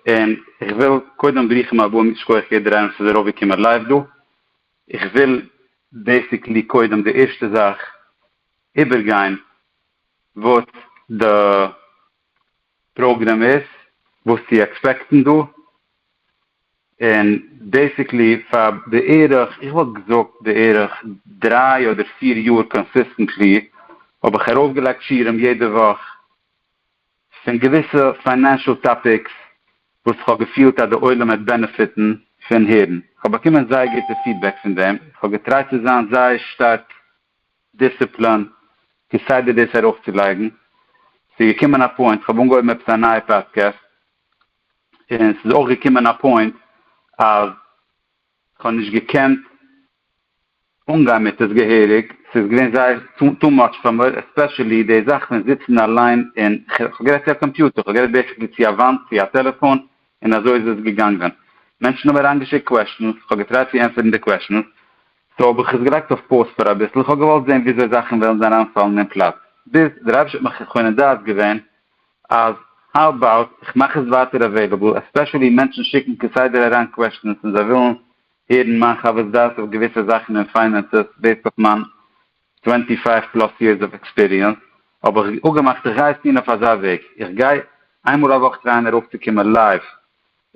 און איך וויל קודם ברוכים הבאים ייש כח יעדער עס איז ארויף געקומען לייוו דא, איך וויל בעסיקלי קודם די ערשטע זאך איבער גיין וואס די פראגרעם איז, וואס צו עקספעקטן דא, און בעסיקלי פאר בערך איך וואלט געזאגט בערך דריי אדער פיר יאר קאנסיסטענטלי האב איך ארויף געלייגט שיעורים יעדע וואך, פון געוויסע פיינענשעל טאפיקס וואס איך האב געפילט אז די עולם וועט בענעפיטן פון הערן, איך האב באקומען זייער גוטע פידבעק פון דעם, איך האב געטרייט צו זיין זייער שטארק דיסציפלין כסדר דאס ארויפצולייגן, ס'איז געקומען א פוינט, כ'האב אנגעהויבן עפעס א נייע פאדקעסט, און ס'איז אויך געקומען א פוינט אז כ'האב נישט געקענט אנגיין מיט עס געהעריג, ס'איז געווען זייער טו מאטש פאר מיר, עספעשעלי די זאך פון זיצן אליין און, כ'האב גערעדט צו א קאמפיוטער, כ'האב גערעדט בעיסיקלי צו א וואנט, צו א טעלעפאן, און אזוי איז עס געגאנגען. מענטשן האבן אריינגעשיקט קוועשאנס, כ'האב געטרייט צו ענטפערן די קוועשאנס, סאו האב איך עס געלייגט אויף פאוז פאר אביסל, כ'האב געוואלט זען וויאזוי זאכן וועלן זיין אריינפאלן אין פלאץ, ביז דער אייבישטער האט מיך מכונן דעת געווען אז האו אבאוט כ'מאך עס ווייטער עוועילעבל, עספעשעלי מענטשן שיקן כסדר אריין קוועשאנס און זיי ווילן הערן מיין חוות דעת אויף געוויסע זאכן אין פיינענסעס בעיסד אויף מיין טווענטי פייוו פלאס יערס אוו עקספיריענס האב איך אפגעמאכט איך גיי עס טון אויף אזא וועג איך גיי איינמאל א וואך טרייען ארויפצוקומען לייוו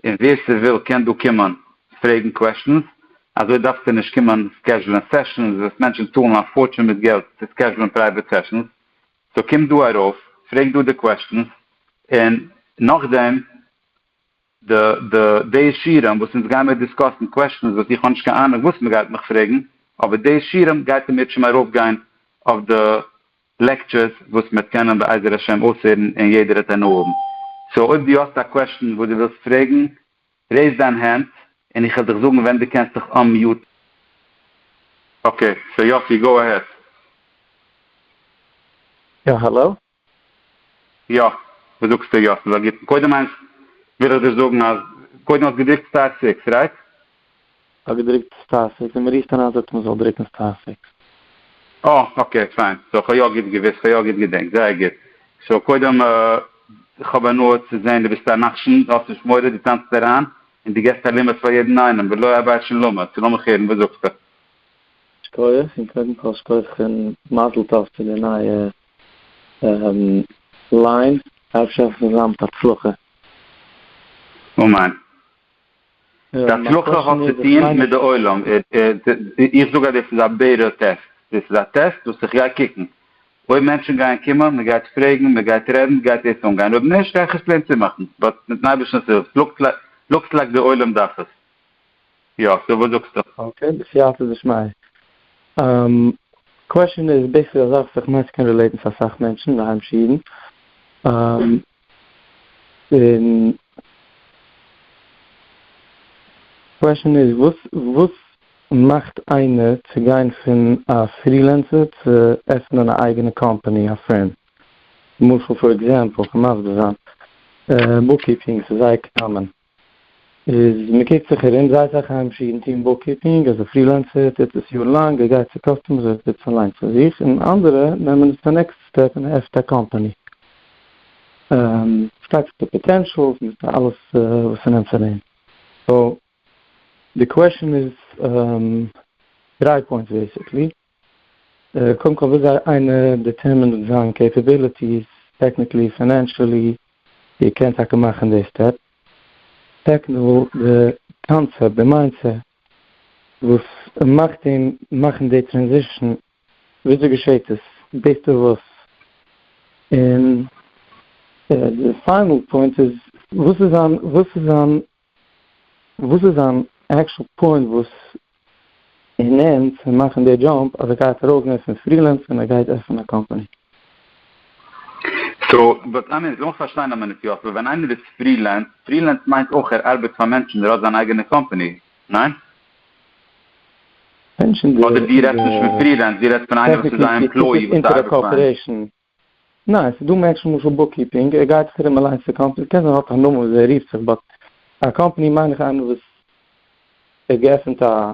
און ווער ס'וויל קען דא קומען פרעגן קוועשטענס אזוי דארפסטו נישט קומען סקעזשולען סעשאנס וואס מענטשן צאלן א פארטשען מיט געלט צו סקעזשולען פרייוועט סעשאנס סאו קום דא ארויף פרעג דא די קוועשטענס און נאכדעם די די די שירעם וואס אונז גיימיר דיסקאסן קוועשטענס וואס איך האב נישט קיין אהנונג וואס מען גייט מיך פרעגן אבער די שירעם גייט אין מיר שוין ארויפגיין אויף די לעקטשערס וואס מ'עט קענען בעזר השם אויסהערן און יעדער העט הנאה האבן סאו אויב דו האסט א קוועשטען וואס דו ווילסט פרעגן רעיז דיין הענט און איך העל דיך זאגן ווען דו קענסט דיך אנמיוטן. אקעי סאו יאסי גאו אהעד. יא האלאו, יא, וואס זאגסטו יא? ס'איז א גוטן, קודם איינס וויל איך דיר זאגן אז קודם האסט געדרוקט סטאר סיקס, רייט? כ'האב געדרוקט סטאר סיקס און מ'רופט אריין זאגט מען זאל דרוקן סטאר סיקס. אה אקעי פיין, סאו כ'האב יא גוט געוואוסט, כ'האב יא גוט געדענקט, זייער גוט. סאו קודם כ'האב הנאה צו זעהן דו ביסט א נחשון, דו האסט נישט מורא, דו טאנצט אריין און דו געסט א לימוד פאר יעדן איינעם, ולא אבאי שום לימוד, סאו לאמיך הערן, וואס זאגסטו? שכוח, און קודם כל שכוח און מזל טוב צו די נייע ליין, אפשר האסט עס ליין מיט הצלחה. אמן. די הצלחה האט צו טוהן מיט די עולם, איך זאג אז דאס איז א בערא טעסט, דאס איז א טעסט וואס איך גיי קוקן אויב מענטשן גייען קומען, מען גייט פרעגן, מען גייט רעדן, גייט דאס אנגיין, אויב נישט גיי איך עס פלעין צומאכן, באט מיטן אייבערשטנ'ס הילף, לוקס לייק די עולם דארף עס, יא, סאו וואס זאגסטו? אקעי, בסייעתא דשמיא. קוועשאן איז בעיסיקלי א זאך וואס איך מיין ס'קען רילעיטן צו אסאך מענטשן, די היימישע אידן. און קוועשאן איז וואס וואס מאכט איינער צו גיין פון א פרילענסער צו עפענען א אייגענע קאמפאני, א פירם. למשל פאר עקזעמפל, איך קען מסביר זיין, בוקקיפינג, ס'איז זייער קאמאן. איז מען קוקט זיך ארום זייט זיי חיים שירן טוהן בוק קיפינג, אז א פרילענסער טוט עס יאר לאנג, ער גייט צו קאסטומערס ער טוט עס אליין פאר זיך, און אנדערע נעמען עס צו נעקסט סטעפ און ער עפענט א קאמפאני. פארשטייט זיך די פאטענשעלס מיט די אלעס וואס ס'נעמט פאר דעם. סאו די קוועשאן איז דריי פוינטס בעיסיקלי. קודם כל וויאזוי איינער דיטערמינט זיין קעפעביליטיס, טעקניקלי, פיינענשעלי, איר קענט טאקע מאכן די סטעפ. סעקנד וואל די קאנצעפט, די מיינדסעט וואס מאכט אים מאכן די טרענזישען, וויאזוי געשעהט עס, ביז די וואס. און די פיינעל פוינט איז וואס איז זיין וואס איז זיין וואס איז זיין עקשול פוינט וואס אין ענד פון מאכן די דזשאמפ אז ער גייט ארויסגיין פון פרילענס און ער גייט עפענען א קאמפאני? סאו וואס איי מין, זאלסט פארשטיין א מינוט יאסל, ווען איינער איז פרילענס, פרילענס מיינט אויך ער ארבעט פאר מענטשן ער האט זיין אייגענע קאמפאני, ניין? אדער דו רעדסט נישט פון פרילענס דו רעדסט פון איינער וואס איז א עמפלאי וואס ארבעט פאר אים? ניין, ס'איז דא מענטשן למשל בוקקיפינג, ער גייט זיך ארום אליינס צו קאמפעניס, קען זיין ער האט א נאמען וויאזוי ער רופט זיך, באט א קאמפעני מיין איך איינער וואס האט געעפענט א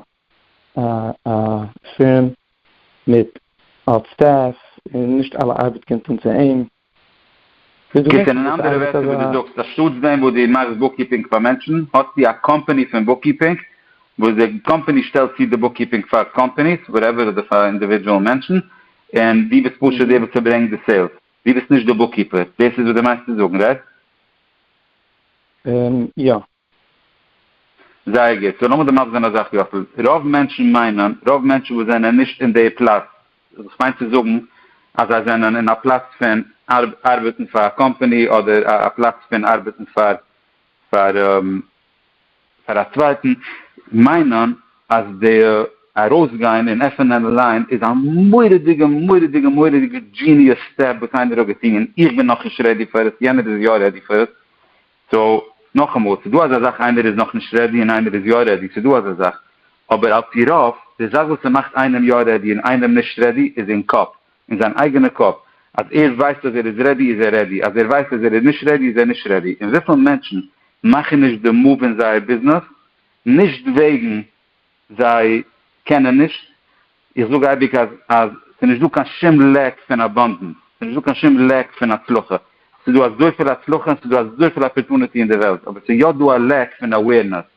א פירם מיט האט סטעף און נישט אלע ארבעט קומט אן צו אים. גוט, און אין אנדערע ווערטער ווי דו זאגסט, אנשטאטס דעם וואס דו מאכסט בוקקיפינג פאר מענטשן, האסטו א קאמפעני פון בוקקיפינג, וואס די קאמפעני שטעלט צו די בוקקיפינג פאר קאמפעניס, וואטעווער, אדער פאר אינדיווידזשועל מענטשן, און דו ביסט פשוט דער וואס פארברענגט די סעילס, דו ביסט נישט דער בוקקיפער, דאס איז וואס דו מיינסט צו זאגן, רייט? און יא. זייער גוט, סאו לאמיר דערנאך זען א זאך יאסל, רוב מענטשן מיינען, רוב מענטשן וואס זענען נישט אין די פלאץ, וואס כ'מיין צו זאגן אז זיי זענען אין א פלאץ פון ארבעטן פאר א קאמפאני אדער א פלאץ פון ארבעטן פאר פאר פאר א צווייטן מיינען אז די ארויסגיין און עפענען אליין איז א מורא'דיגע מורא'דיגע מורא'דיגע דזשיניעס סטעפ וואס איינער האט געטון און איך בין נאך נישט רעדי פאר עס יענער איז יא רעדי פאר עס סאו נאכאמאל ס'איז דא אזא זאך איינער איז נאך נישט רעדי און איינער איז יא רעדי ס'איז דא אזא זאך אבער על פי רוב די זאך וואס ס'מאכט איינעם יא רעדי און איינעם נישט רעדי איז אין קאפ אין זיין אייגענע קאפ אז ער ווייסט אז ער איז רעדי איז ער רעדי אז ער ווייסט אז ער איז נישט רעדי איז ער נישט רעדי און וויפיל מענטשן מאכן נישט די מאוו אין זייער ביזנעס נישט וועגן זיי קענען נישט איך זאג אייביג אז אז ס'איז נישט דא קיין שום לעק פון אבאנדענס ס'איז נישט דא קיין שום לעק פון הצלחה ס'איז דא אזויפיל הצלחה און ס'איז דא אזויפיל אפערטוניטי אין די וועלט אבער ס'איז יא דא א לעק פון אווערנעס.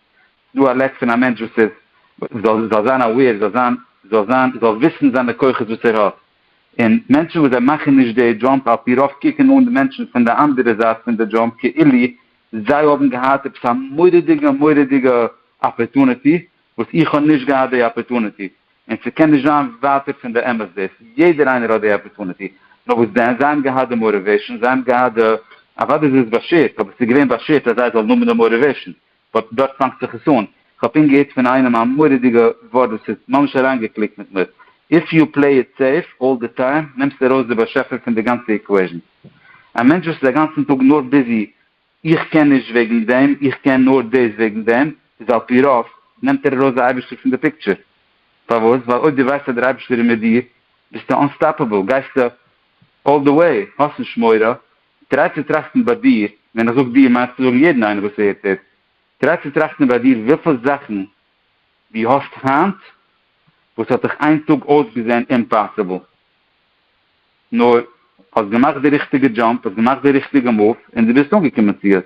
דא א לעק פון א מענטש וואס איז זאל זאל זיין אוועיר זאל זיין זאל זיין זאל וויסן זיינע כוחות וואס ער האט און מענטשן וואס זיי מאכן נישט די דזשאמפ על פי רוב קוקן אן די מענטשן פון די אנדערע זייט פון די דזשאמפ כאילו זיי האבן געהאט עפעס א מורא'דיגע מורא'דיגע אפערטוניטי וואס איך האב נישט געהאט די אפערטוניטי און ס'קען נישט זיין ווייטער פון די אמת דאס יעדער איינער האט די אפערטוניטי נאר וואס דען זיי האבן געהאט די מאטיוועישן זיי האבן געהאט די אוודאי איז עס באשערט אבער ס'איז געווען באשערט אז זיי זאלן האבן די מאטיוועישן. באט דארט פאנגט זיך עס אן, כ'האב פונקט געהערט פון איינעם א מורא'דיגע ווארט וואס האט ממש אריינגעקליקט מיט מיר, איף יו פלעי איט סעיף אלל די טיים נעמסטו ארויס די באשעפער פון די גאנצע איקוועישן. א מענטש וואס איז א גאנצן טאג נאר ביזי איך קען נישט וועגן דעם, איך קען נאר דאס וועגן דעם, איז על פי רוב נעמט ער ארויס די אייבערשטער פון די פיקטשער. פארוואס? ווייל אויב דו ווייסט אז דער אייבערשטער איז מיט דיר, ביסטו אנסטאפעבל, גייסטו אלל די וועי, האסט נישט מורא, טריי צו טראכטן ביי דיר, ווען איך זאג דיר מיינסטו זאגן יעדן איינעם וואס הערט עס, טריי צו טראכטן ביי דיר וויפיל זאכן דו האסט היינט וואס האט דיך איין טאג אויסגעזען אימפאסיבל, נאר האסט געמאכט די ריכטיגע דזשאמפ, האסט געמאכט די ריכטיגע מאוו און דו ביסט אנגעקומען צו עס.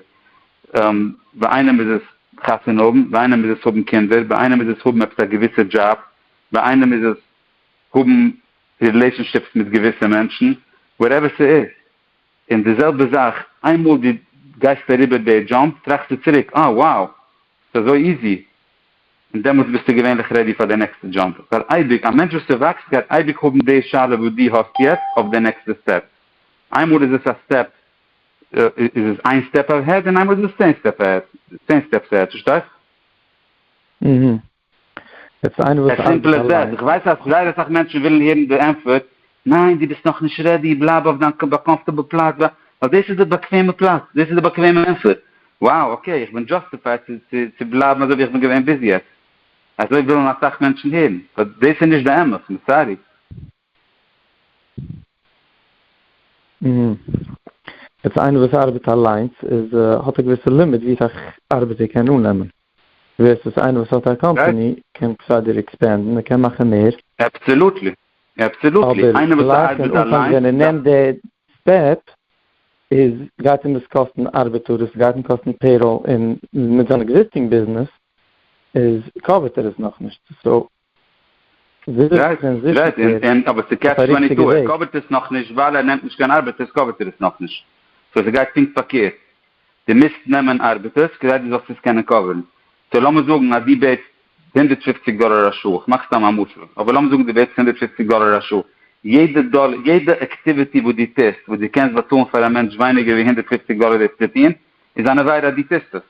ביי איינעם איז עס חתונה האבן, ביי איינעם איז עס האבן קינדער, ביי איינעם איז עס האבן עפעס א געוויסע דזשאב, ביי איינעם איז עס האבן רילעישאנשיפס מיט געוויסע מענטשן, וואטעווער ס'איז, און די זעלבע זאך איינמאל דו גייסט אריבער די דזשאמפ טראכסטו צוריק אה wow ס'איז אזוי איזי, און דעמאלטס ביסטו געווענליך רעדי פאר די נעקסטע דזשאמפ, ווייל אייביג א מענטש וואס ס'וואקסט גייט אייביג האבן די שאלה וואס דו האסט יעצט אויף די נעקסטע סטעפ, איינמאל איז עס א סטעפ איז עס איין סטעפ אהעד און איינמאל איז עס צען סטעפ אהעד, צען סטעפס אהעד, פארשטייסט? עס סימפל עז דעט, איך ווייס אז זייער אסאך מענטשן ווילן הערן די ענטפער, ניין דו ביסט נאכנישט רעדי, בלייב אויף דיין קאמפארטעבל פלאץ, ווייל דאס איז די באקוועמע פלאץ, דאס איז די באקוועמע ענטפער, wow אקעי איך בין דזשאסטיפייד צו בלייבן אזוי ווי איך בין געווען ביז יעצט, אזוי ווילן אסאך מענטשן הערן, באט דאס איז נישט די אמת, סארי. יעצט איינער וואס ארבעט אליינס איז האט א געוויסע לימיט ווי סאך ארבעט ער קען אננעמען, ווערסוס איינער וואס האט א קאמפעני קען כסדר עקספענדן ער קען מאכן מער. אבסעלוטלי, אבסעלוטלי, איינער וואס ארבעט אליינס ווען ער נעמט די סטעפ איז גייט אים דאס קאסטן ארבעטאר עס גייט אים קאסטן פעיראל און מיט זיין עקזיסטינג ביזנעס איז קאווערט ער עס נאכנישט סאו גרייט גרייט אין אין אבער ס'קעטש טווענטי טו ער קאווערט עס נאכנישט ווייל ער נעמט נישט קיין ארבעטערס קאווערט ער עס נאכנישט סאו ס'גייט פונקט פארקערט די מיזט נעמען ארבעטערס כדי די זאלסט עס קענען קאווערן סאו לאמיר זאגן אז די בעטס הונדערט פֿופֿציק דאלער א שעה איך מאך סתם א משל אבער לאמיר זאגן די בעטס הונדערט פֿופֿציק דאלער א שעה יעדע דאלער יעדע עקטיוויטי וואס די טוסט וואס די קענסט באצאלן פאר א מענטש ווייניגער ווי הונדערט פֿופֿציק דאלער דאס צו טון איז אן עבירה אז די טוסט עס.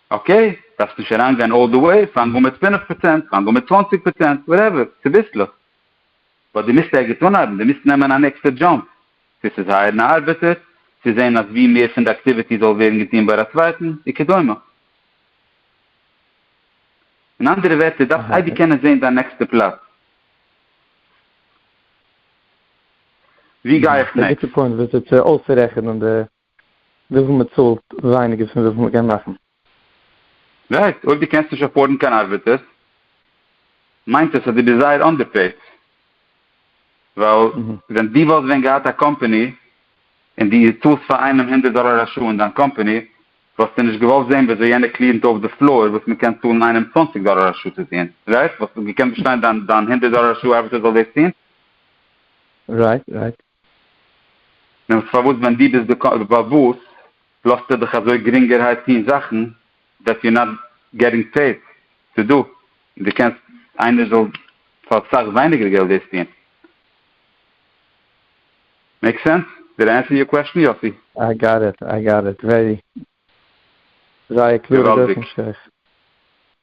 אקעי, דארפסט נישט אריינגיין אלל די וועי, פאנג אן מיט פֿינף פראצענט, פאנג אן מיט צוואַנציק פראצענט, וואטעווער, צוביסלעך. באט דו מוזט ערגעץ אנהייבן, דו מוזט נעמען א נעקסטע דזשאמפ. צו ס'איז הייערן א ארבעטער, צו זען אז ווי מער פון די אקטיוויטי זאל ווערן געטון ביי א צווייטן, וכדומה. אין אנדערע ווערטער, דארפסט אייביג קענען זען דיין נעקסטע פלאץ. ווי גיי איך נעקסט? וויפיל מען צאלט ווייניגער פון וויפיל מען קען מאכן. רייט, אויב דו קענסט נישט אפארדן קיין ארבעטערס מיינט עס אז דו ביסט זייער אנדערפעיד, ווייל ווען דו וואלסט ווען געהאט א קאמפעני און דו צאלסט פאר איינעם הונדערט דאלער א שעה אין דיין קאמפעני וואלסטו נישט געוואלט זען וויאזוי יענער קליענט אויף די פלאר וואס מען קען צאלן איינעם צוואַנציק דאלער א שעה צו טון, רייט? וואלסטו געקענט באשטיין דיין הונדערט דאלער א שעה ארבעטער זאל דאס טון? רייט רייט. נעמסט פארוואס ווען דו ביסט באוואוסט לאזטו דיך אזוי גרינגערהייט טון זאכן דעט יו נאט געטינג פעיד טו דו און דו קענסט איינער זאל פאר סאך ווייניגער געלט דאס טון? מעיק סענס? דיד איי ענסער יור קוועסטשן יוסי? איי גאט איט, איי גאט איט, ווערי, זייער קלארע דורכענשטריך.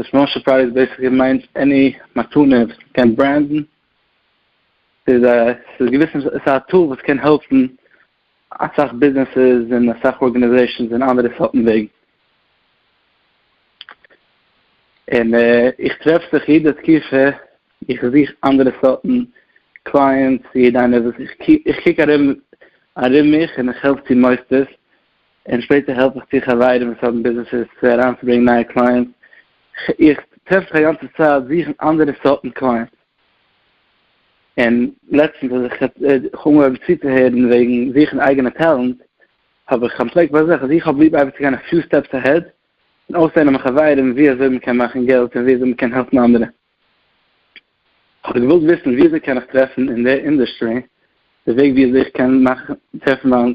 די סמאל סורפרייז בעיסיקלי מיינט עני מתנה וואס מען קען ברענדן, ס'איז א ס'איז א געוויסע ס'איז א טול וואס קען העלפן אסאך ביזנעסעס און אסאך ארגענעזעישאנס און אנדערע סארטן וועגן. און איך טרעף זיך יעדע תקופה איך זוך אנדערע סארטן קלייענטס, יעדע איינער וואס איך קוק ארום ארום מיך און איך העלף צו מוסדות און שפעטער העלף איך צו חברים וואס האבן ביזנעסעס צו אריינצוברענגען נייע קלייענטס, איך טרעף זיך א גאנצע צייט זוכן אנדערע סארטן קלייענטס, און לעצטנס אז איך האב אנגעהויבן צוצוהערן וועגן זוכן אייגענע טעלענט, האב איך אנטפלעקט ביי זיך אז איך האב ליב אייביג צו גיין א פיו סטעפס אהעד, און אויסלערנען מיט חברים ווי אזוי מען קען מאכן געלט און ווי אזוי מען קען העלפן אנדערע. האב איך געוואלט וויסן ווי אזוי קען איך טרעפן אין די אינדוסטרי די וועג ווי אזוי איך קען טרעפן מיין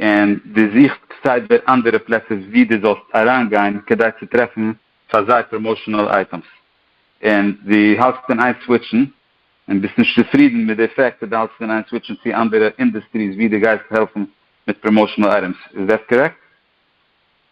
און דו זוכסט סיידווער אנדערע פלעצער ווי דו זאלסט אריינגיין כדי צו טרעפן פאר זיי פראמאושענעל אייטעמס, און דו האלטסט אין איין סוויטשן און ביסט נישט צופרידן מיט די פעקט אז דו האלטסט אין איין סוויטשן צו אנדערע אינדוסטריס ווי דו גייסט העלפן מיט פראמאושענעל אייטעמס, איז דעס קארעקט?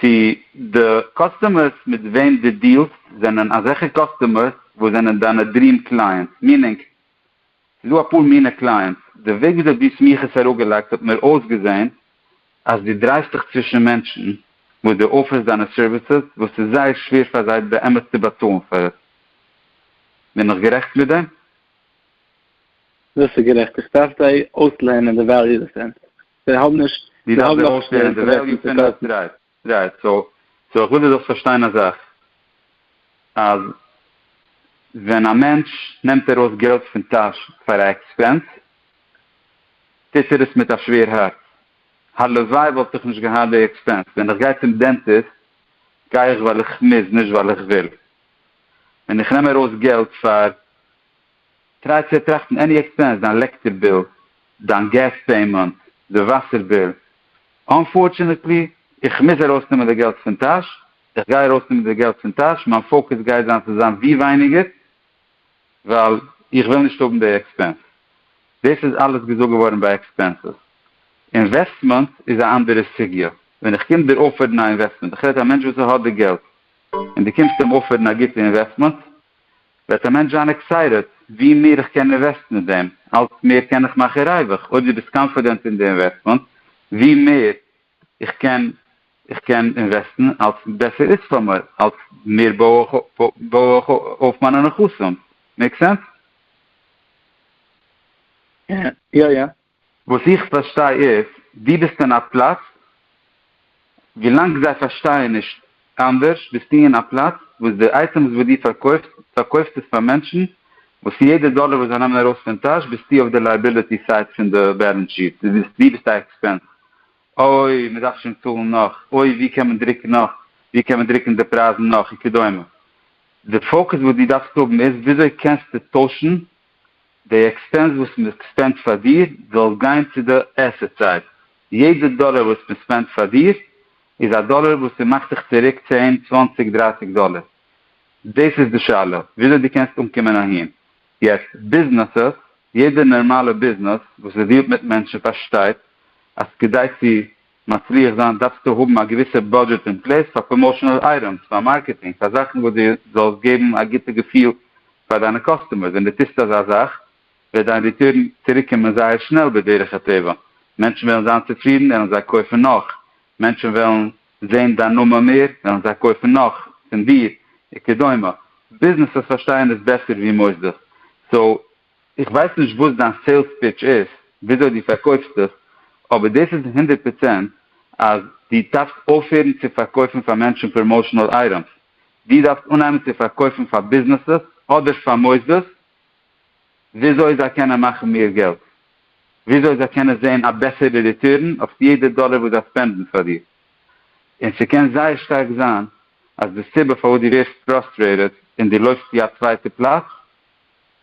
צו די קאסטומערס מיט וועם דו דיעלסט זענען אזעלכע קאסטומערס וואס זענען דיינע דריעם קלייענטס, מינינג ס'דא אפאר מינע קלייענטס, די וועג וויאזוי דו האסט מיר עס אראפגעלייגט האט מיר אויסגעזען אז דו דרייסט דיך צווישן מענטשן וואס דו אפערסט דיינע סערוויסעס וואס ס'איז זייער שווער פאר זיי באמת צו באצאלן פאר עס, בין איך גערעכט מיט דעם? דאס איז גערעכט, איך דארף זיי אויסלערנען די וועליו דעפענס. זיי האבן נישט, זיי האבן נאך נישט די אינטערעסן צו קויפן. רייט, סאו איך וויל דו זאלסט פארשטיין א זאך, אז ווען א מענטש נעמט ארויס געלט פון טאש פאר א עקספענס, טוט ער עס מיט א שווער הארץ, הלוואי וואלט איך נישט געהאט די עקספענס, ווען איך גיי צום דענטיסט גיי איך ווייל איך מוז, נישט ווייל איך וויל, ווען איך נעם ארויס געלט פאר טריי צו טראכטן עני עקספענס, דיין לעקטער ביל, דיין געז פעימענט, די וואסער ביל, אנפארטשענעטלי איך מוז ארויסנעמען די געלט פון טאש, איך גיי ארויסנעמען די געלט פון טאש, מיין פאוקעס גייט זיין צו זיין ווי ווייניגער ווייל איך וויל נישט האבן די עקספענס. דאס איז אלעס געזאגט געווארן ביי עקספענסעס. אינוועסטמענט איז א אנדערע סוגיא, ווען איך קום דיר אפערן א אינוועסטמענט, איך רעד א מענטש וואס ער האט די געלט, און דו קומסט אים אפערן א גוטע אינוועסטמענט, וועט א מענטש זיין עקסייטעד ווי מער איך קען אינוועסטן אין דעם, אלץ מער קען איך מאכן ריווח, אויב דו ביסט קאנפידענט אין די אינוועסטמענט ווי מער איך קען איך קען אינוועסטן אלץ בעסער איז פאר מיר, אלץ מער בוי איך בוי איך אויף מיינע נכסים, מעיק סענס? יא יא. וואס איך פארשטיי איז, דו ביסט אין א פלאץ, ווילאנג זיי פארשטייען נישט אנדערש, ביסטו אין א פלאץ וואס די אייטעמס וואס דו פארקויפסט, פארקויפסט עס פאר מענטשן וואס יעדע דאלער וואס זיי נעמען ארויס פון טאש ביסטו אויף די לייעביליטי סייט פון די בעלענס שיעט, דו ביסט א עקספענס, אוי מען דארף שוין צאלן נאך, אוי ווי קען מען דרוקן נאך, ווי קען מען דרוקן די פרייזן נאך וכדומה, די פאוקעס וואס דו דארפסט האבן איז וויאזוי קענסטו טוישן. די עקספענס וואס מ'ספענדט פאר דיר זאל גיין צו די עסעט סייד, יעדע דאלער וואס מ'ספענדט פאר דיר איז א דאלער וואס ס'מאכט זיך צוריק צען צוואנציג דרייסיג דאלער, דאס איז די שאלה וויאזוי דו קענסט אנקומען אהין, יעצט ביזנעסעס, יעדע נערמאלע ביזנעס וואס ס'דיעלט מיט מענטשן פארשטייט אז כדי צו מצליח זיין דארפסטו האבן א געוויסע בודזשעט אין פלעס פאר פראמאשענעל אייטעמס, פאר מארקעטינג, פאר זאכן וואס דו זאלסט געבן א גוטע געפיל פאר דיינע קאסטומערס, ווען דו טוסט אזא זאך וועט דיין ריטורן צוריק קומען זייער שנעל בדרך הטבע, מענטשן וועלן זיין צופרידן וועלן זיי קויפן נאך, מענטשן וועלן זען דיין נאמען מער וועלן זיי קויפן נאך פון דיר וכדומה, ביזנעסעס פארשטייען עס בעסער ווי מוסדות, סאו איך ווייס נישט וואס דיין סעילס פיטש איז, וויאזוי דו פארקויפסט דיך, אבער דאס איז הונדערט פראצענט אז דו דארפסט אויפהערן צו פארקויפן פאר מענטשן פראמאושענעל אייטעמס, דו דארפסט אנהייבן צו פארקויפן פאר ביזנעסעס אדער פאר מוסדות וויאזוי זיי קענען מאכן מער געלט, וויאזוי זיי קענען זען א בעסערע ריטורן אויף יעדע דאלער וואס זיי ספענדן פאר דיר, און ס'קען זייער שטארק זיין אז די סיבה פארוואס דו ווערסט פראסטרעיטעד און דו לויפסט צו א צווייטע פלאץ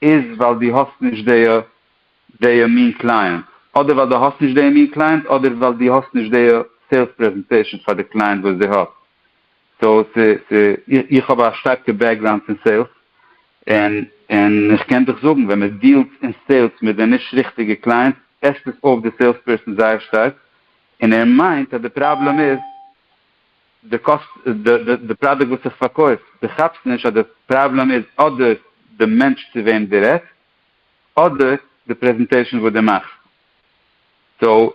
איז ווייל דו האסט נישט די די מין קלייענט, אדער ווייל דו האסט נישט די מין קלייענט, אדער ווייל דו האסט נישט די סעילס פרעזענטעישן פאר די קלייענט וואס דו האסט, סאו ס ס איך האב א שטארקע בעקגראונד פון סעילס, און און איך קען דיך זאגן ווען מען דיעלט אין סעילס מיט די נישט ריכטיגע קלייענטס עסט עס אויף די סעילס פערסאן זייער שטארק, און ער מיינט אז די פראבלעם איז. די קאסט די פראדוקט וואס איך פארקויף, די כאפסט נישט אז די פראבלעם איז אדער די מענטש צו וועם די רעדסט, אדער די פרעזענטעישן וואס די מאכסט, סאו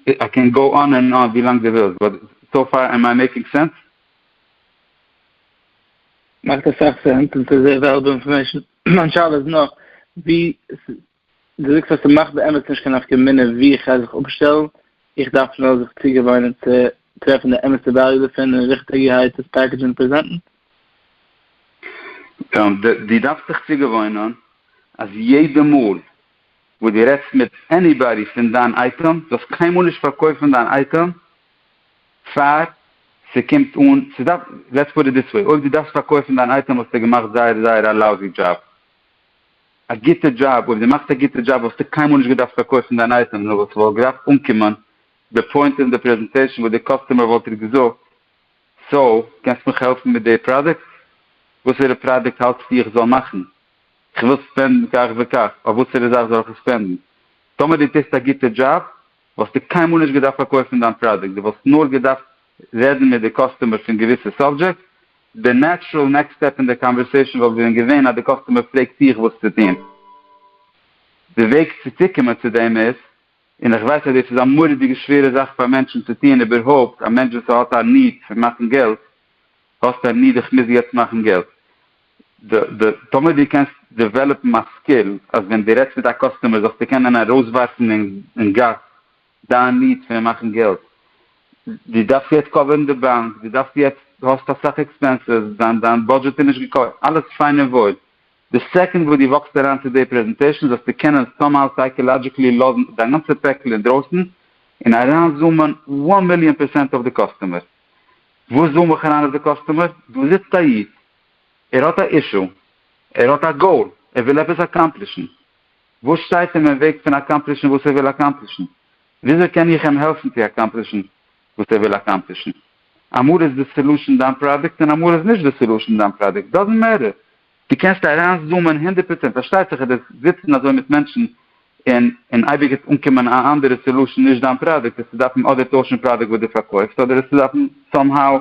איי קען גאו אן ענד אן ווי לאנג די ווילסט, באט סאו פאר עם איי מעיקינג סענס? מאכט אסאך סענס און סאיז אוועליבעל אינפארמעישן, מיין שאלה איז נאר ווי דו זאגסט אז ס'מאכט באמת נישט קיין נפקא מינה וואו איך גיי זיך אפשטעלן, איך דארף נאר זיך צוגעוואוינען צו טרעפן די אמת'ע וועליו דערפון און ריכטיגערהייט עס פעקעדזשן און פרעזענטן? דו דארפסט זיך צוגעוואוינען אז יעדע מאל וואס דו רעדסט מיט עניבאדי פון דיין אייטעם, זאלסט קיינמאל נישט פארקויפן דיין אייטעם פאר ס'קומט אן, ס'דארף, לעטס פוט איט דיס וועי, אויב דו דארפסט פארקויפן דיין אייטעם האסטו געמאכט זייער זייער א לאוזי דזשאב. א גוטע דזשאב, אויב דו מאכסט א גוטע דזשאב וואלסטו קיינמאל נישט געדארפט פארקויפן דיין אייטעם נאר וואס ס'וואלט געדארפט אנקומען די פוינט אין די פרעזענטעישן וואס די קאסטומער וואלט דיר געזאגט, סאו קענסט מיך העלפן מיט די פראדוקט? וואסערע פראדוקט האלטסטו איך זאל מאכן? איך וויל ספענדן כך וכך, אויף וואסערע זאך זאל איך עס ספענדן? טאמער דו טוסט א גוטע דזשאב וואלסטו קיינמאל נישט געדארפט פארקויפן דיין פראדוקט, דו וואלסט נאר געדארפט רעדן מיט די קאסטומערס פון געוויסע סאבדזשעקטס, די נעטשרעל נעקסט סטעפ אין די קאנווערסעישאן וואלט ווען געווען אז די קאסטומער פרעגט דיך וואס צו טון. די וועג צו צוקומען צו דעם איז, און איך ווייס אז דאס איז א מורא'דיגע שווערע זאך פאר מענטשן צו טון, איבערהויפט א מענטש וואס האט א ניד פון מאכן געלט, האסט א ניד איך מוז יעצט מאכן געלט. טאמער דו קענסט דעוועלאפן א סקיל אז ווען דו רעדסט מיט א קאסטומער זאלסטו קענען ארויסווארפן אין גאס דיין ניד פון מאכן געלט. דו דארפסט יעצט קאווערן די באנק, דו דארפסט יעצט, דו האסט אסאך עקספענסעס, דיין בודזשעט איז נישט געקאווערט, אלעס פיין און וואויל. די סעקאנד וואס דו וואקסט אריין צו די פרעזענטעישן זאלסטו קענען סאמהאו סייקאלאדזשיקלי לאזן דיין גאנצע פעקל אינדרויסן און אריינזומען וואן מיליאן פערסענט אויף די קאסטומער. וואס זאל מיך אריין אויף די קאסטומער? דא זיצט א איד, ער האט א אישו, ער האט א גאול, ער וויל עפעס אקאמפלישן, וואס שטייט אים אין וועג פון אקאמפלישן וואס ער וויל אקאמפלישן? וויאזוי קען איך אים העלפן צו אקאמפלישן וואס ער וויל אקאמפלישן? אמאל איז די סעלושען דיין פראדוקט און אמאל איז נישט די סעלושען דיין פראדוקט, דאזענט מעטער, דו קענסט אריינזומען הונדערט פראצענט, פארשטייט זיך אז דאס זיצן אזוי מיט מענטשן און און אייביג עס אנקומען א אנדערע סעלושען נישט דיין פראדוקט וועסטו דארפן אדער טוישן פראדוקט וואס דו פארקויפסט אדער וועסטו דארפן סאם האו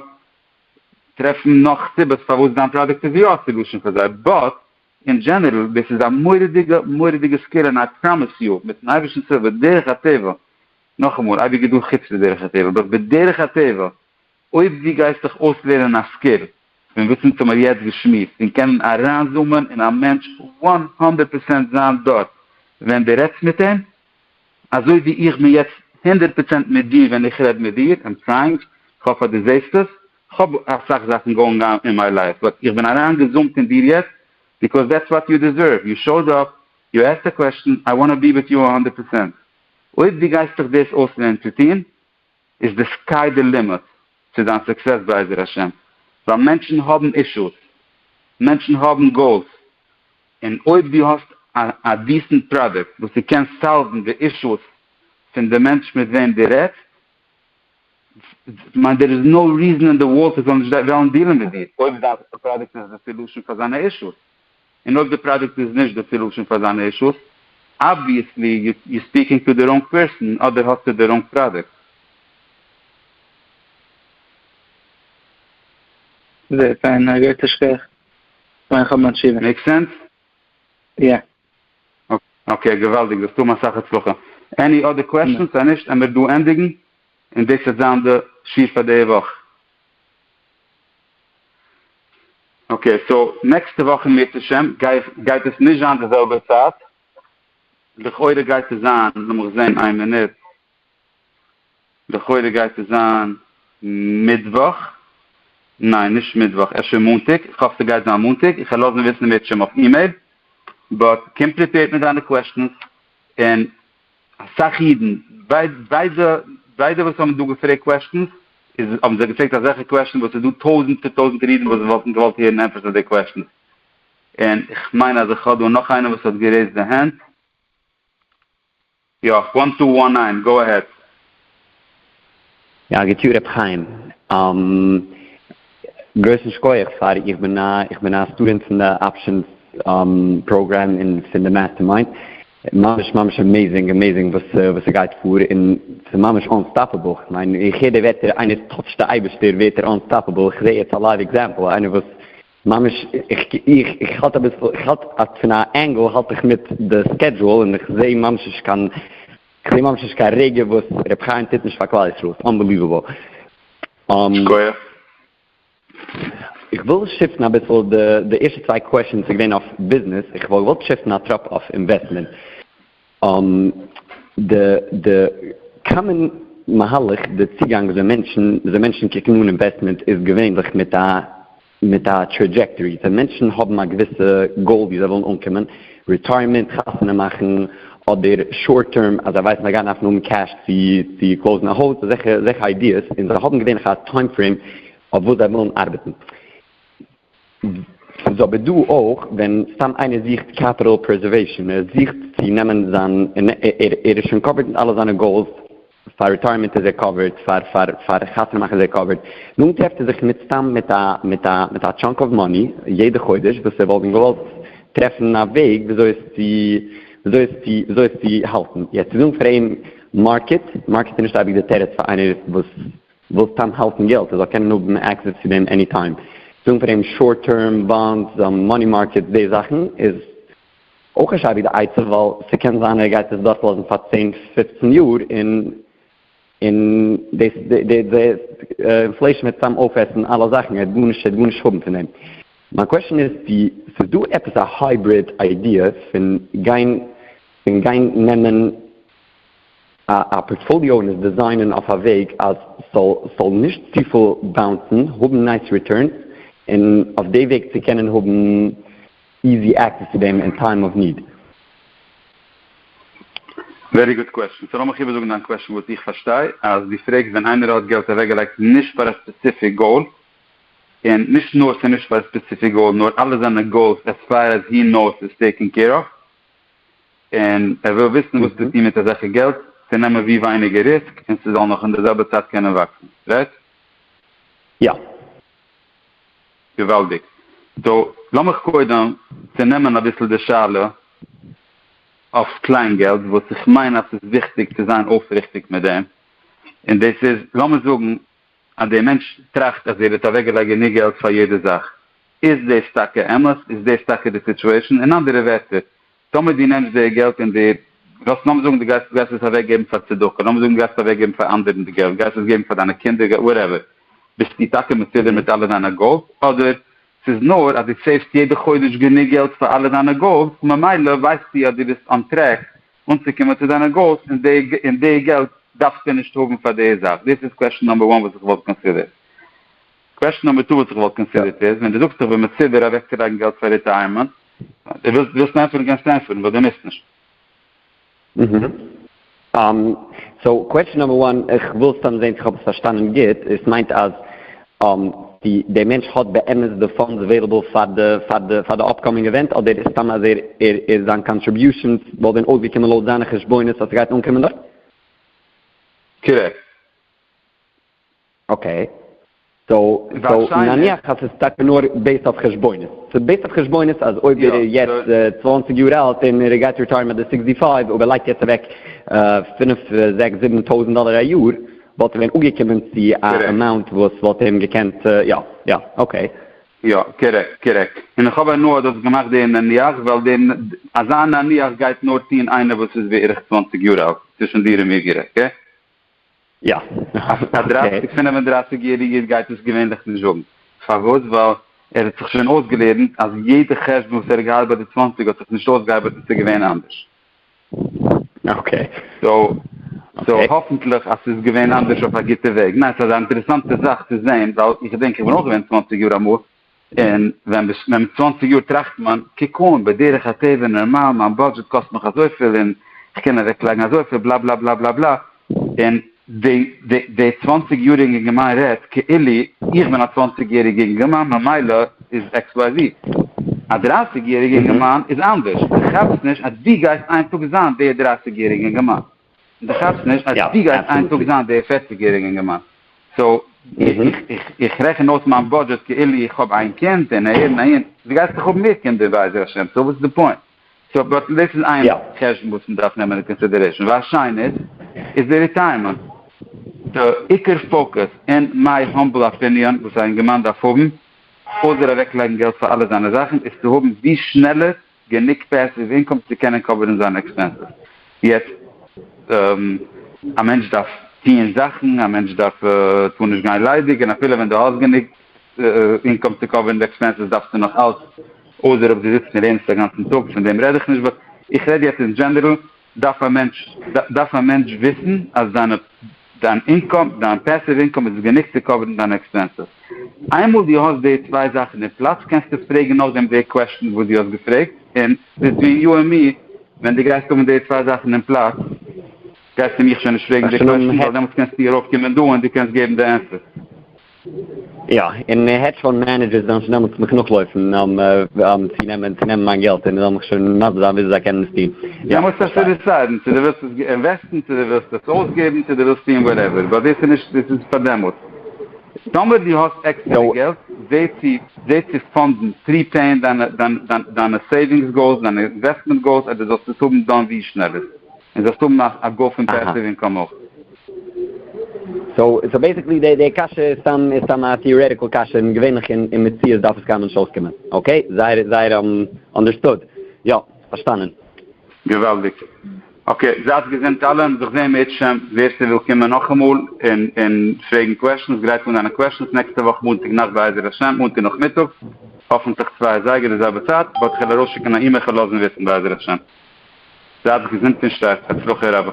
טרעפן נאך סיבות פארוואס דיין פראדוקט איז יא א סעלושען פאר זיי באט אין דזשענערל דאס איז א מורא'דיגע מורא'דיגע סקיל און איי פראמיס יו מיטן אייבירשטנ'ס הילף בדרך הטבע נאכאמאל אייביג איז דא חוץ מדרך הטבע באט בדרך הטבע אויב דו גייסט דיך אויסלערנען א סקיל פון וואס אונז האמיר יעצט געשמועסט און קענען אריינזומען אין א מענטש וואן הונדערט פראצענט זיין דארט ווען דו רעדסט מיט אים, אזוי ווי איך בין יעצט הונדערט פראצענט מיט דיר ווען איך רעד מיט דיר, איים טרייאינג, כ'האף אז דו זעסט עס, כ'האב אסאך זאכן גאוינג אן אין מיי לייף באט איך בין אריינגעזומט אין דיר יעצט ביקאוז דעטס וואט יו דיזערוו, יו שאוד אפ, יו עסקט א קוועשטן, איי וואנט טו בי וויט יו א הונדערט פראצענט. אויב דו גייסט דיך דאס אויסלערנען צו טון. איז די סקיי די לימיט צו דיין סוקסעס בעזר השם, ווייל מענטשן האבן אישוס, מענטשן האבן גאולס, און אויב דו האסט א דיסענט פראדוקט וואס ס'קען סאלוון די אישוס פון די מענטש מיט וועם דו רעדסט, כ'מיין דער איז נאו ריזען אין די ווארלד ס'זאל נישט וועלן דיעלן מיט דיר, אויב דיין פראדוקט איז די סעלושען פאר זיינע אישוס. און אויב די פראדוקט איז נישט די סעלושען פאר זיינע אישוס, אבוויעסלי יו ספיקינג טו די ראנג פערסאן אדער האסטו די ראנג פראדוקט. זעהט פיין גייט א שכח פארן איך האב מיין תשובה. מעיק סענס? יא. אקעי געוואלדיג וועסט האבן אסאך הצלחה. עני אדער קוועשאנס? אז נישט עמער דא ענדיגן און דאס וועט זיין די שיעור פאר די וואך. אקעי סאו נעקסטע וואך אם ירצה ה' גייט עס נישט זיין די זעלבע צייט, לכאורה גייט עס זיין, לאמיך זעהן איין מינוט, לכאורה גייט עס זיין מיטוואך, ניין נישט מיטוואך אפשר מאנטאג, איך האף ס'גייט זיין מאנטאג, איך וועל לאזן וויסן מאת שםאויף אימעיל, באט קום פריפעירד מיט דיינע קוועשטענס און. אסאך אידן, ביידע וואס האבן דא געפרעגט קוועסטשענס, האבן זיי געפרעגט אזעלכע קוועסטשענס וואס ס'איז דא טויזענטער טויזענטער אידן וואס וואלטן געוואלט הערן ענטפערס אויף די קוועסטשענס, און איך מיין אז איך האב דא נאך איינער וואס האט גערעיזט די הענט. יא, וואן טו וואן ניין, גאו עהעד. יא גוט יאר ר' חיים, גרויסן שקויעך פאר איך בין א איך בין א סטודענט פון די אפשענס פראגרעם און פון די מעסטערמיינד, ממש ממש עמעזינג עמעזינג וואס וואס ס'גייט פאר און ס'איז ממש אנסטאפעבל, כ'מיין איך הער די ווערטער איינער טאטשט די אייבערשטער ווערט ער אנסטאפעבל, כ'זע יעצט א לייוו עקזעמפל איינער וואס ממש איך איך איך האלט אביסל איך האלט פון א ענגעל האלט איך מיט די סקעדזשועל און איך זע ממש נישט קיין. כ'זע ממש נישט קיין רגע וואס ר' חיים טוט נישט פאר כלל ישראל, ס'איז אנבעליוועבל. שכוח. איך וויל שיפטן אביסל די די ערשטע צוויי קוועשאנס איז געווען אויף ביזנעס, איך וואלט געוואלט שיפטן א טראפ אויף אינוועסטמענט. די די קאמאן מהלך, די צוגאנג וויאזוי מענטשן וויאזוי מענטשן קוקן אן אינוועסטמענט איז געווענליך מיט א. מיט א טרעדזשעקטארי, ווען מענטשן האבן א געוויסע גאול ווי זיי ווילן אנקומען, רעטייערמענט, חתונה מאכן, אדער שארט טערם אז זיי ווייסן זיי גייען דארפן האבן קעש צו קלאוזן א הויז, אזעלכע איידיעס, און זיי האבן געווענליך א טיים פרעים אויף וואס זיי ווילן ארבעטן. ס'איז אבער דא אויך ווען סתם איינער זוכט קעפיטאל פרעזערוועישאן, ער זוכט צו נעמען זיין, ער איז שוין קאווערד מיט אלע זיינע גאולס, פאר ריטייערמענט איז ער קאווערד, פאר פאר פאר חתונה מאכן איז ער קאווערד, דאן טרעפט ער זיך מיטסתם מיט א מיט א מיט א טשאנק אוו מאני יעדע חודש וואס ער וואלט ווען געוואלט טרעפן א וועג וויאזוי עס צו וויאזוי עס צו וויאזוי עס צו האלטן, יעצט צו זאגן פאר אים מארקעט, מארקעט איז נישט אייביג די תירוץ פאר איינער וואס וויל סתם האלטן געלט ער זאל קענען האבן עקסעס צו דעם עני טיים, זאגן פאר אים שארט טערם באנדס, מאני מארקעטס, די זאכן איז אויך נישט אבי די עצה ווייל ס'קען זיין ער גייט עס דארט לאזן פאר צען פופצן יאר און און דאס די די אינפלעישן וועט צאם אויפעסן אלע זאכן ער וועט גארנישט ער וועט גארנישט האבן פון דעם. מיין קוועשן איז צו ס'איז דא עפעס א הייבריד איידיע פון גיין פון גיין נעמען א א פארטפאליאו און עס דעזיינען אויף א וועג אז ס'זאל ס'זאל נישט צופיל באונסן, האבן נייס ריטורנס און אויף די וועג צו קענען האבן. איזי עקסעס צו דעם אין טיים אוו ניד. ווערי גוד קוועסטשען. סאו לאמיך איבערזאגן דיין קוועסטשען וואס איך פארשטיי אז דו פרעגסט ווען איינער האט געלט אוועקגעלייגט נישט פאר א ספעציפיק גאול און נישט נאר ס'איז נישט פאר א ספעציפיק גאול נאר אלע זיינע גאולס עז פאר עז הי נאוס איז טעיקען קעיר אוו און ער וויל וויסן וואס צו טון מיט אזעלכע געלט צו נעמען ווי ווייניגער ריסק און ס'זאל נאך אין די זעלבע צייט קענען וואקסן. רייט? יא. געוואלדיג. סאו לאמיך קודם צונעמען אביסל די שאלה אויף קליינגעלט וואס איך מיין אז ס'איז וויכטיג צו זיין אויפריכטיג מיט דעם, און דאס איז לאמיר זאגן אז דער מענטש טראכט אז ער האט אוועקגעלייגט גענוג געלט פאר יעדע זאך, איז דאס טאקע אמת? איז דאס טאקע די סיטועשאן? אין אנדערע ווערטער, טאמער דו נעמסט די געלט און דו, לאמיר זאגן דו גייסט גייסט עס אוועק געבן פאר צדקה, לאמיר זאגן דו גייסט אוועק געבן פאר אנדערן די געלט, גייסט עס געבן פאר דיינע קינדער, גייסט וואטעווער, ביסטו טאקע מסודר מיט אלע דיינע גאלס, אדער ס'איז נאר אז דו סעיוו'סט יעדע חודש גענוג געלט פאר אלע דיינע גאלס, און ממילא ווייסטו אז דו ביסט אן טרעק אנצוקומען צו דיינע גאלס, און די און די געלט דארפסטו נישט האבן פאר די זאך, דאס איז קוועשאן נאמבער וואן וואס איך וואלט קאנסידערט. קוועסשן נומער טו וואס איך וואלט קאנסידערט איז, ווען דו זאגסט איך בין מסודר אוועקצולייגן געלט פאר ריטייערמענט, דו ווילסט ווילסט ענטפערן קענסטו ענטפערן, באט דו מוזט נישט. אהמ, סאו קוועסשן נומער וואן, איך וויל סתם זעהן צו איך האב עס פארשטאנען גוט, עס מיינט אז אהמ די די מענטש האט באמת די פאנדס אוועילעבל פאר די פאר די פאר די אפקאמינג עווענט, אדער איז סתם אז ער ער ער זיין קאנטריביושענס וואלט ווען אויסגעקומען לויט זיינע חשבונות אז ס'גייט אנקומען דארט? קארעקט. אקעי, סאו נניח אז ס'איז טאקע נאר בעיסד אויף חשבונות, ס'איז בעיסד אויף חשבונות אז אויב ער איז יעצט צוואַנציק יאר אלט און ער גייט ריטייערן ביי די סיקסטי פייוו אויב ער לייגט יעצט אוועק פֿינף זעקס זיבן טויזנט דאלער א יאר וואלט ער ווען אנגעקומען צו א אמאונט וואס וואלט אים געקענט יא יא אקעי. יא, קארעקט, קארעקט. און איך האב הנאה דו האסט געמאכט די נניח, ווייל די אזא נניח גייט נאר טון איינער וואס איז בערך צוואַנציק יאר אלט, צווישן דיר און מיר גערעדט, אקעי? יא. א דרײַסיק פֿינף און דרײַסיק יעריגע איד גייט דאס געווענליך נישט זאגן. פארוואס? ווייל ער האט זיך שוין אויסגעלערנט אז יעדע חשבון וואס ער האט געהאט ביי די צוואַנציק האט זיך נישט אויסגעארבעט און ס'איז געווען אנדערש. סאו האפנטליך אז ס'איז געווען אנדערש אויף א גוטע וועג. ניין, ס'איז א אינטערעסאנטע זאך צו זען, ווייל איך געדענק איך בין אויך געווען צוואַנציק יאר אמאל, און ווען ביסט מער מיט צוואַנציק יאר טראכט מען, קוק אן, בדרך הטבע, נארמאל, מיין בודזשעט קאסט מיך אזויפיל און כ'קען אוועקלייגן אזויפיל, בלא בלא בלא בלא בלא, און די צוואַנציק יעריגע אינגערמאן רעדט כאילו איך בין א צוואַנציק יעריגע אינגערמאן ממילא איז עקס וויי זי. א דרייסיג יעריגע אינגערמאן איז אנדערש, דו כאפסט נישט אז דו גייסט איין טאג זיין די דרייסיג יעריגע אינגערמאן. און דו כאפסט נישט אז דו גייסט איין טאג זיין דער פערציג יעריגע אינגערמאן, סאו איך רעכן אויס מיין בודזשעט כאילו איך האב איין קינד און אהער און אהין, דו גייסט דאך האבן מער קינדער בעזר השם, סאו וואס איז די פוינט? סאו באט דאס איז איין חשבון וואס מען דארף נעמען אין קאנסידערעישאן, וואס שיינער איז די ריטייערמענט. די עיקר פאוקוס אין מיי האמבל אפיניאן וואס א אינגערמאן דארף האבן, אויסער אוועקלייגן געלט פאר אלע זיינע זאכן, איז צו האבן ווי שנעלער גענוג פעסיוו אינקאם צו קענען קאווערן זיינע עקספענסעס. יעצט א מענטש דארף טוען זאכן, א מענטש דארף טאר נישט גיין ליידיג, און אפילו ווען דו האסט גענוג אינקאם צו קאווערן די עקספענסעס דארפסטו נאך אלץ, אויסער אויב דו זיצט און לערנסט א גאנצן טאג, פון דעם רעד איך נישט, באט איך רעד יעצט אין דזשענערל. דארף א מענטש דארף א מענטש וויסן אז דיינע דיין אינקאם דיין פעסיוו אינקאם איז גענוג צו קאווערן דיינע עקספענסעס. איינמאל דו האסט די צוויי זאכן אין פלאץ קענסטו פרעגן נאכדעם די קוועשטן וואס דו האסט געפרעגט און ביטווין יו ענד מי ווען דו גייסט האבן די צוויי זאכן אין פלאץ גייסטו מיך שוין נישט פרעגן די קוועשטן ווייל דעמאלטס קענסטו ארויפקומען דא און דו קענסט געבן די ענטפערס. יא, און העדזש פאנד מענעדזשערס וועלן שוין דעמאלטס מיך נאכלויפן צו נעמען צו נעמען מיין געלט, און זיי וועלן מיך שוין מסביר זיין וויאזוי זיי קענען עס טון. יא, איך פארשטיי. דו מוזט אפשר דיסיידן צו דו ווילסט עס אינוועסטן, צו דו ווילסט עס אויסגעבן, צו דו ווילסט טון וואטעווער, באט דאס איז נישט, דאס איז פאר דעמאלטס. טאמער דו האסט עקסטערע געלט, זע צו פאנדן, פריפעיען דיינע סעיווינגס גאולס, דיינע אינוועסטמענט גאולס, אז דו זאלסט עס האבן דאן ווי שנעלער. און זאלסט האבן א א גוף פון פעסיוו אינקאם אויך. סאו בעסיקלי די די קשיא איז סתם איז סתם א טיארעטיקל קשיא און געווענליך אין אין מציאות דארף עס קיינמאל נישט אויסקומען. אקעי? זייער זייער אנדערסטוד. יא. פארשטאנען. געוואלדיג. אקעי. זייטס געזונט אלע. זיך זעהן בעזהשם. ווער ס'וויל קומען נאכאמאל און און פרעגן קוועשאנס גרייט אן דיינע קוועשאנס נעקסטע וואך מאנטאג נאכט בעזהשם מאנטאג נאכמיטאג האפענטליך צוויי אזייגער די זעלבע צייט באט כ'על ארויסשיקן א אימעיל כ'על לאזן וויסן בעזהשם. זייטס געזונט און שטארק, הצלחה רבה.